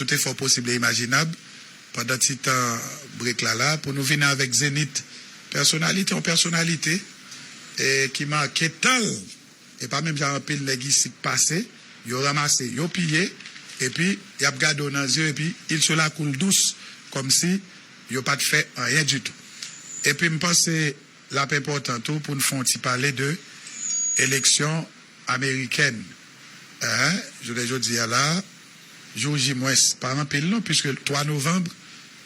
tout efò posib e imajinab pandan ti tan break la la pou nou vini avèk zenith pèsonalite yon pèsonalite e ki make tan l e pa menm jan anpil nèg isit pase yo ranmase yo piye epi y ap gade w nan zye epi il se la koule douce kòmsi yo pa t fè anyen ditou epi m panse L ap enpòtan tou pou n fè yon ti pale de eleksyon amerikèn an jounen jodi a la a. Jou J mwens pa anpil non puiske 3 novanb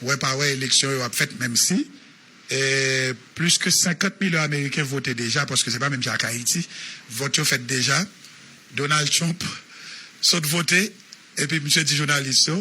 wè pa wè eleksyon yo ap fèt menmsi plis ke 50 milyon ameriken vote deja paske se pa menm jan ak Ayiti vòt yo fèt deja. Donald Trump sot vote. Epi misye di jounalis yo,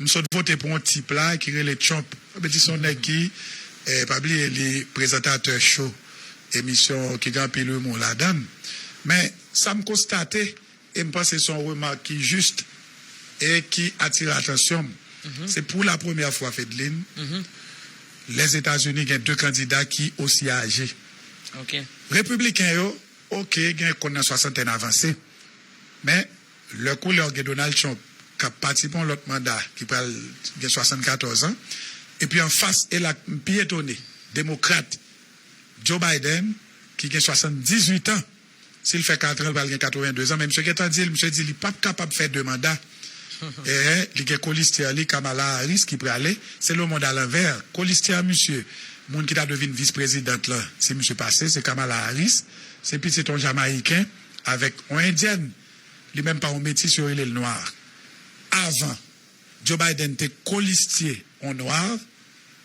m sot vote pou yon tip la ki rele Trump. Sa vle di se yon nèg ki, pa bliye li prezantatè cho emisyon ki gen anpil imou ladan l. Men, sa m konstate, e m panse se yon remak ki jis e ki atire atansyon m, se pou la premyè fwa, Fedlin, Lèzetazini gen de kandida ki osi aje. Repibliken yo, oke, gen konn nan swasantèn avanse, men Lè koulè w gen Donald Trump k ap pati pou yon lòt manda ki pral gen 74 an, epi anfas e la m pi etone demokrat Joe Biden ki gen 78 an, si l fè 4 an l pral gen 82 an men misye gentan di l misye di li p ap kapab fè 2 manda ee li gen kolistyè li Kamala Harris ki prale se le mond alanvè kolistyè misye moun ki ta dwe vin vis prezidant lan si misye pase se Kamala Harris se pitit yon jamayiken. avèk yon endyèn li menm pa yon metis yo rele l nwa avan Joe Biden te kolistye yon nwa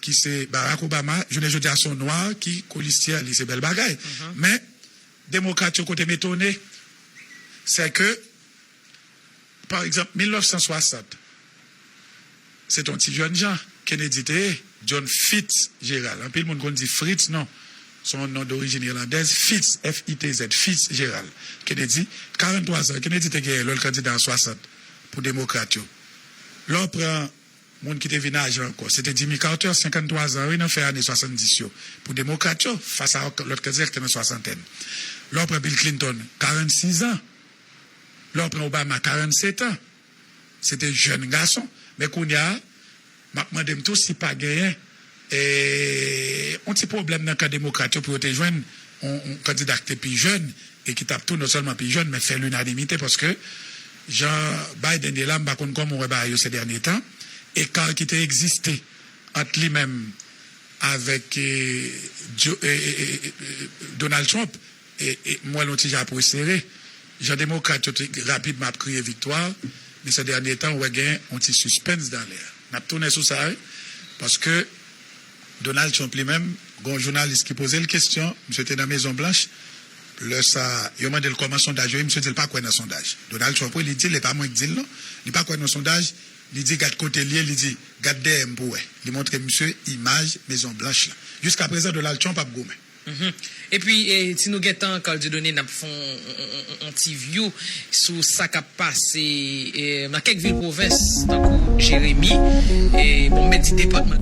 ki se Barack Obama jounen jodi a se yon nwa ki kolistyè li se bèl bagay men demokrat yo kote m etone sè ke Pa egzanp, 1960, se te yon ti jènjan Kennedy te ye, John Fitzgerald. Anpil moun konn di Fritz, non, se yon non dorijin ilandèz, Fitz, F-i-t-z, Fitzgerald Kennedy, 43 zan Kennedy te genyen lè l kandida an 60 pou demokrat yo. Lè w pran moun ki te vin aje ankò, se te Jimmy Carter, 53 zan, wi, nan fen ane 70 yo, pou demokrat yo, fas a yon lòt kandida ki te nan swasantèn. Lè w pran Bill Clinton, 46 zan, Lè w pran Obama 47 an, se te jèn gason. Men kounya, m ap mande m tou si pa genyen yon ti pwoblèm nan kan demokrat yo pou yo te jwenn yon kandida ki te pi jèn e ki t ap tou non sèlman pi jèn men fè linanimite paske jan Biden ye la m pa konn kòman w wè bagay yo se dènye tan. Eka ki te egziste ant li menm avèk Donald Trump. M wè l yon ti jan ap resere. Jan demokrat yo te rapidman ap kriye viktwa, men sè dènye tan ou wè gen yon ti sispens dan lè a. N ap tounen sou sa wi, paske Donald Trump li menm, gen yon jounalis ki poze l kesyon, misye te nan Mezon Blanch, lè sa a, yo mande l kòman sondaj yo ye, misye di l pa kwè nan sondaj. Donald Trump wi, li di l, e pa mwen k di l non, li pa kwè nan sondaj, li di gad kote l ye, li di, gad dèyè m pou w wè. Li montre misye imaj Mezon Blanch la. Jiskaprezan Donald Trump ap goumen. Mph epi si nou gen tan Carl Dieudonné nap fè yon ti view sou sa kap pase nan kèk vil pwovens tankou Jeremi bon m mèt di depatman.